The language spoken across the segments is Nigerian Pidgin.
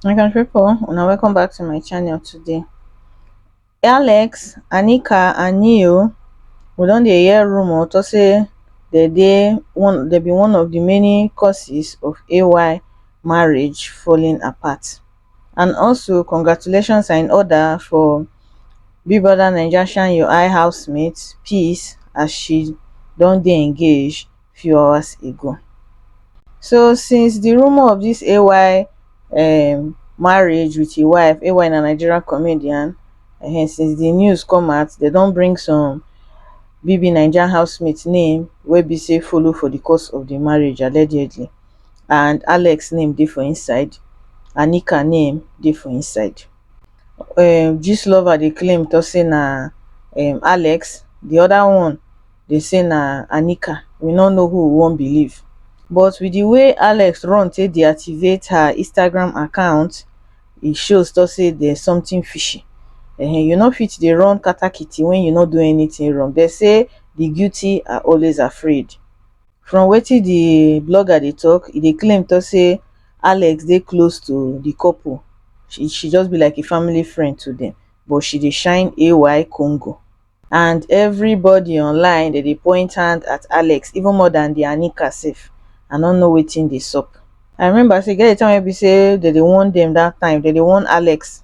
my country people una welcome back to my channel today alex anika and neo we don dey hear rumor to say they dey one they be one of the many causes of ay marriage falling apart and also congratulations are in order for big brother naija shine your eye housemate peace as she don dey engaged few hours ago so since di rumour of dis ay um marriage wit im wife ay na nigerian comedian um since di news come out dem don bring some bbnaija housemates name wey be say follow for di cos of di marriage allegedly and Alex name dey for inside, Anika name dey for inside. um Gistlover dey claim talk say na um Alex, the other one dey say na Anika, we no know who we wan believe. But with the way Alex run take deactivate her Instagram account, e shows talk say there's something fishy. um You no fit dey run katakiti when you no do anything wrong. They say the guilty are always afraid. from wetin di blogger dey tok e dey claim tok say alex dey close to di couple she just be like a family friend to dem but she dey shine ay kongo and evribodi online dem dey point hand at alex even more dan di anika sef i no know wetin dey sup. I remember say e get di time wey be say dem dey warn dem dat time dem dey warn alex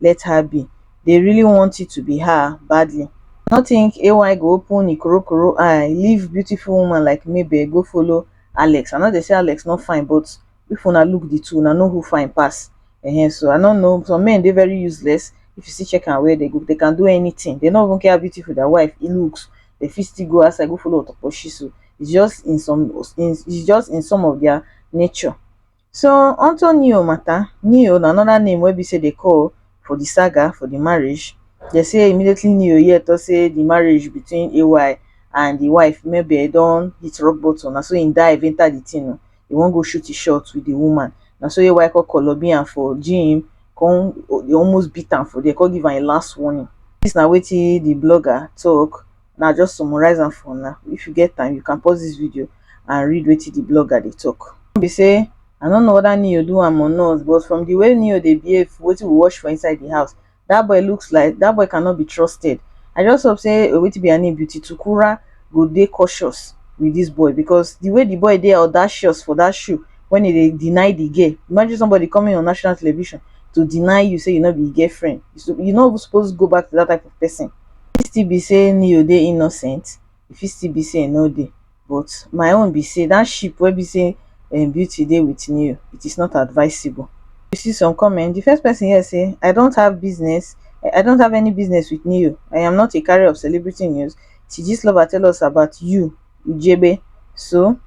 let her be dey really want it to be her badly no think ay go open e korokoro eye leave beautiful woman like mabel go follow alex i no dey say alex no fine but if una look the two una know who fine pass um so i no know some men dey very useless if you see check am well they go they can do anything they no even care how beautiful their wife e looks they fit still go outside go follow otopo shiso it's just in some it's just in some of their nature So unto Neo matter, Neo na another name wey be say dey call for the saga for the marriage. They say immediately Neo hear talk say the marriage between AY and the wife maybe don hit rock bottom. Na so he dive enter the thing. Oh. He won't go shoot his shot with the woman. Na so AY call Colobian for gym, come almost beat him for there, come give him a last warning. This na wetin the blogger talk now just summarize am for now if you get time you can pause this video and read wetin the blogger dey talk be say i don't know whether neo do am or not but from the way neo dey behave wetin we watch for inside the house that boy looks like that boy cannot be trusted i just hope say oh, wetin be her name beauty tukura go dey cautious with this boy because the way the boy dey audacious for that show when he dey deny the girl imagine somebody coming on national television to deny you say you no be him girlfriend you, so, you no even suppose go back to that type of person fit still be sey Neo dey innocent, e fit still be sey e no dey but my own be sey dat ship wey be sey Beauty dey with Neo it is not advisable. You see some comment, di first person here sey I don't have business I don't have any business with Neo, I am not a carrier of celebrity news till dis lover tell us about you ujebe so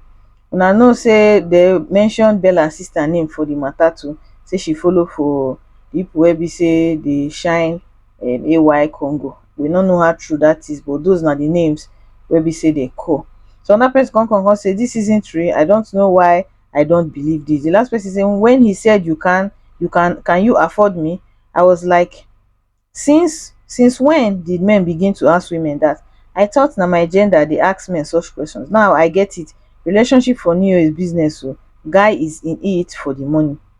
una know sey dey mention Bella sister name for di matter too sey she follow for people wey be sey dey shine um AY Congo. We no know how true that is, but those na the names wey be say dey call. So another person come come come say this isn't real. I don't know why I don't believe this. The last person say when he said you can, you can, can you afford me? I was like, since since when did men begin to ask women that? I thought na my gender dey ask men such questions. Now I get it. Relationship for New Year is business o. Guy is in it for the money.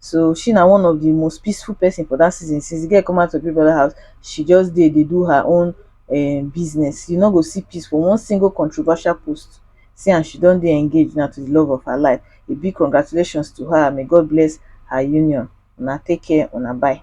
so she na one of the most peaceful person for that season since the girl come out to Big Brother house she just dey dey do her own um, business you no go see peace for one single controversial post see and she don dey engaged now to the love of her life a big congratulations to her may God bless her union una take care una bye.